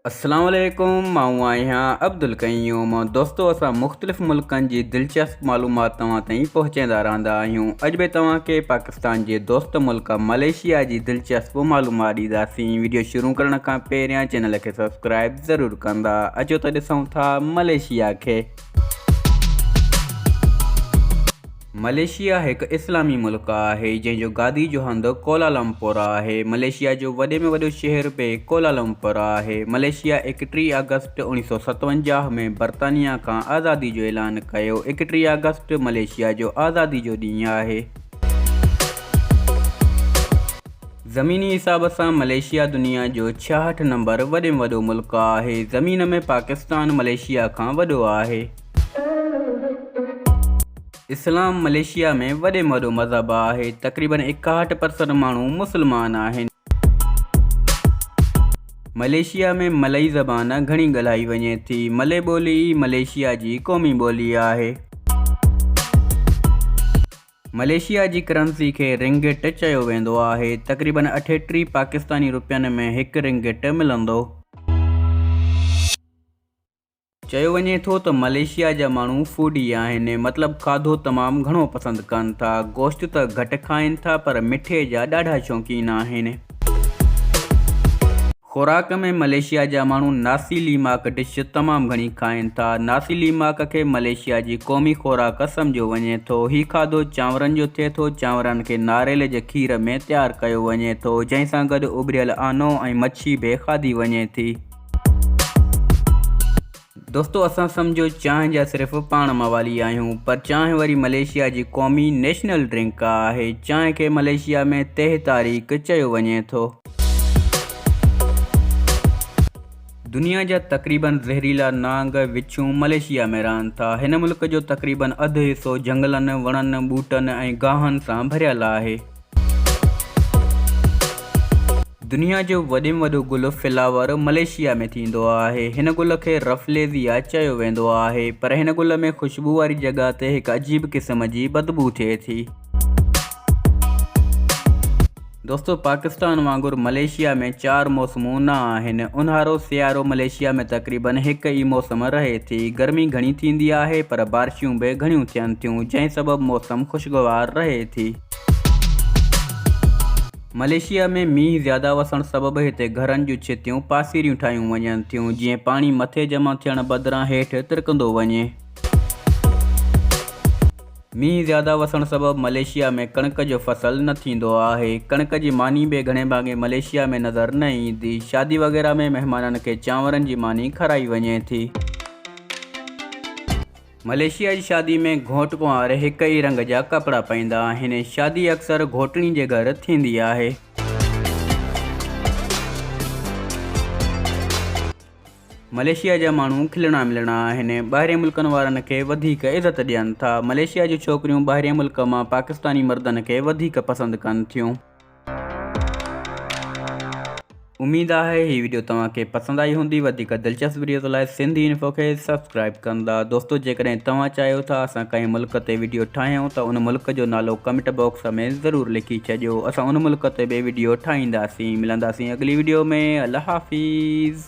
السلام عليڪم مائون آهيان عبدالقيوم دوستو اسان مختلف ملڪن جي دلچسپ معلومات توهان تائين پهچائيندا رهندا آهيون اڄ به توهان کي پاڪستان جي دوست ملڪ ملائيشيا جي دلچسپ معلومات ڏينداسين ويڊيو شروع ڪرڻ کان پهريان چينل کي سبسڪرائب ضرور ڪندا اچو ته ڏسون ٿا ملائيشيا کي ملائيشيا هڪ اسلامي ملڪ آهي، جنهن جو گادي جو هنڌ ڪوالالمپور آهي. ملائيشيا جو وڏي ۾ وڏو شهر به ڪوالالمپور آهي. ملائيشيا ايڪٽيهه آگسٽ اوڻيهه سؤ ستاونجاهه ۾ برطانيا کان آزادي جو اعلان ڪيو. ايڪٽيهه آگسٽ ملائيشيا جو آزادي جو ڏينهن آهي. زميني حساب سان ملائيشيا دنيا جو ڇاهٺ نمبر وڏي ۾ وڏو ملڪ آهي. زمين ۾ پاڪستان ملائيشيا کان وڏو آهي. اسلام ملائيشيا ۾ وڏي ۾ وڏو مذهب آهي. تقريبن ايڪاهٺ پرسنٽ ماڻهو مسلمان آهن. ملائيشيا ۾ ملئي زبان گهڻي ڳالهائي وڃي ٿي. ملئي ٻولي ئي ملائيشيا جي قومي ٻولي آهي. ملائيشيا جي ڪرنسي کي رنگٽ چيو ويندو آهي، تقريبن اٺيٽيهه پاڪستاني روپين ۾ هڪ رنگٽ ملندو. چيو وڃي ٿو ته ملائيشيا جا ماڻهو فوڊي آهن، مطلب کاڌو تمام گهڻو پسند ڪن ٿا، گوشت ته گهٽ کائين ٿا پر مٺي جا ڏاڍا شوقين آهن. خوراڪ ۾ ملائيشيا جا ماڻهو ناسي ليماڪ ڊش تمام گهڻي کائين ٿا. ناسي ليماڪ کي ملائيشيا جي قومي خوراڪ سمجهيو وڃي ٿو. هي کاڌو چانورن جو ٿئي ٿو. چانورن کي ناريل جي کير ۾ تيار ڪيو وڃي ٿو، جنهن سان گڏ اٻريل آنو ۽ مڇي به کاڌي وڃي ٿي. دوستو اسان سمجهو چانهه جا صرف پاڻ موالي آهيون پر چانهه وري ملائيشيا جي قومي نيشنل ڊرنڪ آهي چانهه کي ملائيشيا ۾ تهه تاريڪ چيو وڃي ٿو. دنيا جا تقريباً زهريلا نانگ، وڇون، ملائيشيا ۾ رهن ٿا. هن ملڪ جو تقريباً اڌ حصو جهنگلن، وڻن، ٻوٽن ۽ گاهن سان ڀريل آهي. دنيا جو وڏي ۾ وڏو گل فلاور ملائيشيا ۾ ٿيندو آهي. هن گل کي رفليزيا چيو ويندو آهي پر هن گل ۾ خوشبو واري جڳهه تي هڪ عجيب قسم جي بدبو ٿئي ٿي. دوستو پاڪستان وانگر ملائيشيا ۾ چار موسمون نه آهن. اونهارو سيارو ملائيشيا ۾ تقريبن هڪ ئي موسم رهي ٿي. گرمي گهڻي ٿيندي آهي پر بارشون به گهڻيون ٿين ٿيون جنهن سبب موسم خوشگوار رهي ٿي. ملائيشيا ۾ مينهن زياده وسڻ سبب هتي گهرن جون ڇتيون پاسيريون ٺاهيون وڃن ٿيون جيئن پاڻي مٿي جمع ٿيڻ بدران هيٺ ترڪندو وڃي. مينهن زياده وسڻ سبب ملائيشيا ۾ ڪڻڪ جو فصل نه ٿيندو آهي. ڪڻڪ جي ماني به گهڻي ڀاڱي ملائيشيا ۾ نظر نه ايندي. شادي وغيره ۾ مهمانن کي چانورن جي ماني کارائي وڃي ٿي. ملائيشيا جي شادي ۾ گهوٽ ڪنوار هڪ ئي رنگ جا ڪپڙا پائيندا آهن. شادي اڪثر گهوٽڻي جي گهر ٿيندي آهي. ملائيشيا جا ماڻهو کلڻا ملڻا آهن. ٻاهرين ملڪن وارن کي وڌيڪ عزت ڏين ٿا. ملائيشيا جون ڇوڪريون ٻاهرين ملڪ مان پاڪستاني مردن کي وڌيڪ پسند ڪن ٿيون. اميد آهي هي ويڊيو توهان کي پسند آئي هوندي وڌيڪ دلچسپ ويڊيوز لاء سنڌ انفو کي سبسڪرائب ڪندا دوستو جيڪڏهن توهان چاهيو ٿا اسان ڪنهن ملڪ تي ويڊيو ٺاهيون ته ان ملڪ جو نالو ڪمينٽ باڪس ۾ ضرور لکي ڇڏيو اسان ان ملڪ تي به ويڊيو ٺاهينداسين ملنداسين اڳلي ويڊيو ۾ الله حافظ.